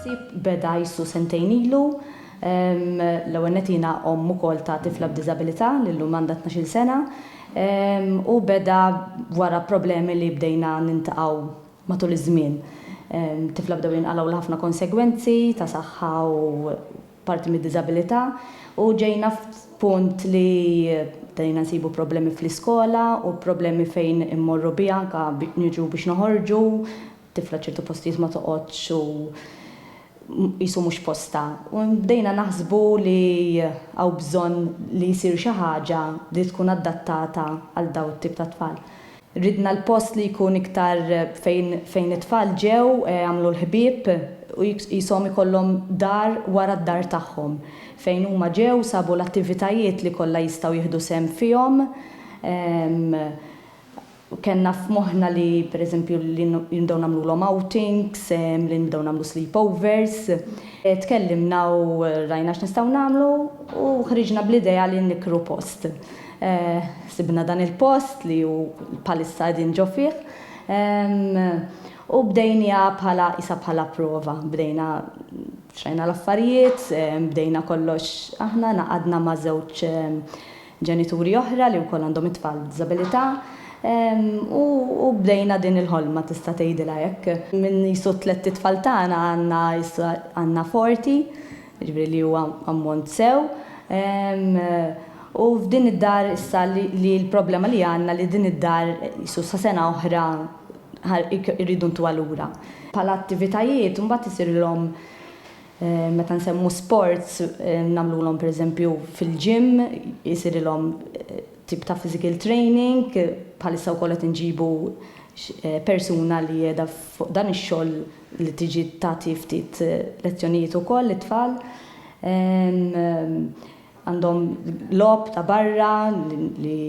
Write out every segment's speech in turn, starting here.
Ħsieb beda jsu sentejn ilu. L-ewwel nett jiena omm ukoll ta' tifla b'diżabilità li llum għandha tnax-il sena u beda wara problemi li bdejna nintaqgħu matul iż-żmien. Tifla bdew jinqalgħu l-ħafna konsegwenzi ta' saħħa u parti mid-diżabilità u ġejna f'punt li bdejna nsibu problemi fl-iskola u problemi fejn immorru biha anke niġu biex noħorġu, tifla ċertu postijiet ma toqgħodx u qisu mhux postha. U bdejna naħsbu li hawn bżonn li jsir xi ħaġa li tkun adattata għal dawn it-tip ta' tfal. Ridna l-post li jkun iktar fejn fejn it-tfal ġew, għamlu l-ħbieb u qishom ikollhom dar wara d-dar tagħhom fejn huma ġew, sabu l-attivitajiet li kollha jistgħu jieħdu sehem fihom. Kellna f'moħħna li pereżempju li nbdew nagħmlulhom outings, li nbdew nagħmlu sleepovers. Tkellimna u rajna x'nistgħu nagħmlu u ħriġna bl-idea li nikkru post. Sibna dan il-post li hu bħalissa qegħdin ġo fih u bdejniha bħala qisha bħala prova. Bdejna xrajna l-affarijiet, bdejna kollox aħna, ngħaqadna ma' żewġ ġenituri oħra li wkoll għandhom it-tfal b'diżabilità u bdejna din il-ħolma tista' tgħidilha hekk. Minn qisu t-tlett itfal tagħna għandna issa għandna forti jiġifieri li huwa ammont sew, u f'din id-dar issa li l-problema li għandna li din id-dar qisu sa sena oħra rridu ntuha lura. Bħala attivitajiet imbagħad isirilhom meta nsemmu sports nagħmlulhom pereżempju fil-gym isirilhom tip ta' physical training, bħalissa wkoll qed inġibu persuna li qiegħda fuq dan ix-xogħol, li tiġi tagħti ftit lezzjonijiet ukoll lit-tfal. Għandhom logħob ta' barra li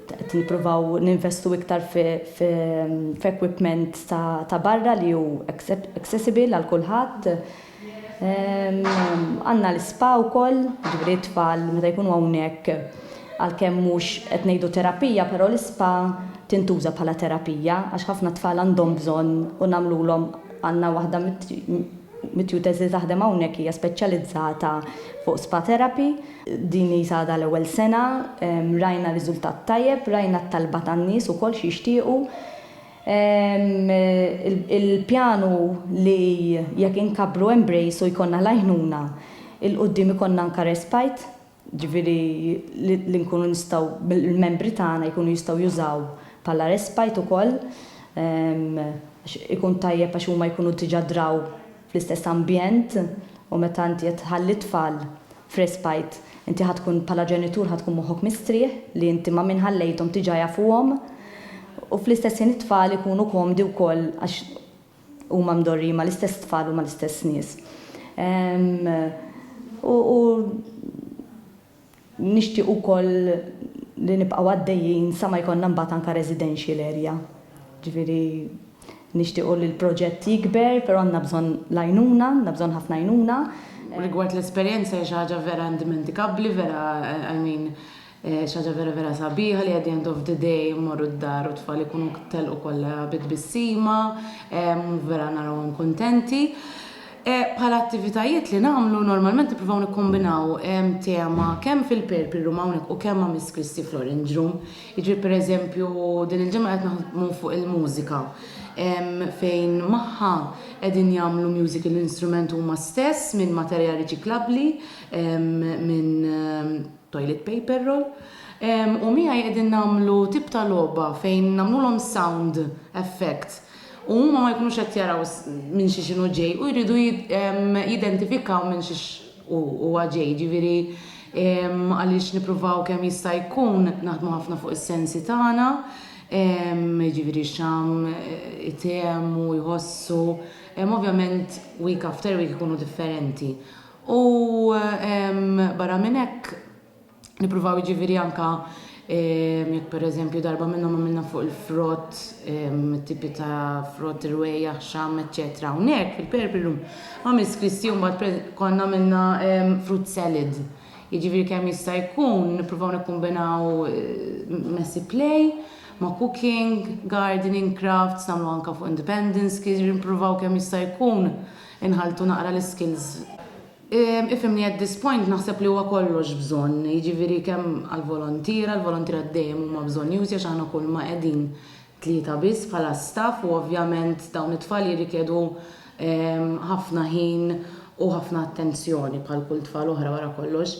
qed nippruvaw ninvestu iktar f'equipment ta' barra li hu accessible għal kulħadd. Għandna l-ispa wkoll, jiġifieri t-tfal meta jkunu hawnhekk Għalkemm mhux qed ngħidu terapija però l-ispa tintuża bħala terapija għax ħafna tfal għandhom bżonn u nagħmlulhom għandna waħda mit-tutors li taħdem hawnhekk hija speċjalizzata fuq spa therapy. Din hi għadha l-ewwel sena, rajna riżultat tajjeb, rajna t-talba tan-nies ukoll x'jixtiequ. Il-pjan hu li jekk inkabbru Embrace u jkollna l-għajnuna, 'il quddiem ikollna anka Respite. jiġifieri li nkunu nistgħu, l-membri tagħna jkunu jistgħu jużaw bħala respite ukoll għax ikun tajjeb għax huma jkunu diġà draw fl-istess ambjent u meta inti qed tħalli t-tfal f'respite inti ħa tkun bħala ġenitur ħa tkun moħħok mistrieħ li inti ma' min ħallejthom diġà jafuhom u fl-istess ħin it-tfal ikunu komdi wkoll għax Huma mdorrijin mal-istess tfal u mal-istess nies. U nixtieq ukoll li nibqgħu għaddejjin sa ma jkollna mbagħad anke residential area. Ġifieri nixtiequ li l-proġett jikber, però għandna bżonn l-għajnuna, għandna bżonn ħafna għajnuna. Rigward l-esperjenza hija xi ħaġa vera indimenticabbli, vera, I mean, Xi ħaġa vera vera sabiħa li at the end of the day immorru d-dar u t-tfal ikunu telqu kollha bi tbissima u vera narawhom kuntenti. Bħala attivitajiet li nagħmlu normalment nippruvaw nikkombinaw tema kemm fil-Purple Room hawnhekk u kemm ma' Miss Christie fl-Orange Room. Jiġifieri pereżempju din il-ġimgħa qed naħdmu fuq il-mużika fejn magħha qegħdin jagħmlu musical instrument huma stess minn materjal riċiklabbli minn toilet paper roll, u miegħi qegħdin nagħmlu tip ta' logħba fejn nagħmlulhom sound effects u huma ma jkunux qed jaraw minn xiex inhu ġej u jridu jidentifikaw minn xiex huwa ġej, jiġifieri għaliex nippruvaw kemm jista' jkun naħdmu ħafna fuq is-sensi tagħna, jiġifieri x'għam itehmu, jħossu, ovvjament week after week ikunu differenti. U barra minn hekk, nippruvaw jiġifieri anke jekk pereżempju darba minnhom għamilna fuq il-frott, it-tipi ta' frott, rwejjaħ, xamm, eċċetera Hawnhekk fil-Purple Room ma' Miss Christie mbagħad konna għamilna fruit salad. Jiġifieri kemm jista' jkun nippruvaw nikkumbinaw messy play ma' cooking, gardening, crafts, nagħmlu anke fuq independence, jiġifieri nippruvaw kemm jista' jkun Inħalltu naqra l-iskills. Ifhimni at this point naħseb li huwa kollox bżonn, jiġifieri kemm għall-volontiera, l-volontiera dejjem huma bżonjużi għax aħna kulma qegħdin tlieta biss bħala staff u ovvjament dawn it-tfal jirrikjedu ħafna ħin u ħafna attenzjoni bħal kull tfal oħra wara kollox.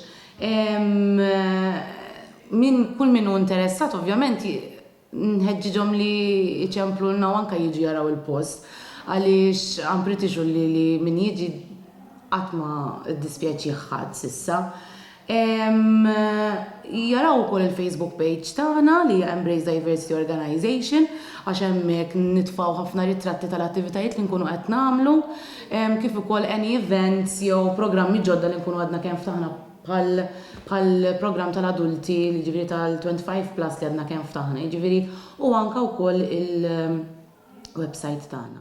Min, kull min hu interessat ovvjament Nħeġġiġhom li jċemplulna u anke jiġu jaraw il-post għaliex I'm pretty sure li li min jiġi qatt ma ddispjaċih ħadd s'issa. Ehm, jaraw ukoll il-Facebook page tagħna li hija Embrace Diversity Organization għax hemmhekk nitfgħu ħafna ritratti tal-attivitajiet li nkunu qed nagħmlu ehm, kif ukoll any events jew programmi ġodda li nkunu għadna kemm ftaħna bħal bħall-programm tal-adulti, jiġifieri tal-25 plus li għadna kemm ftaħna, jiġifieri u anke wkoll il-websajt tagħna.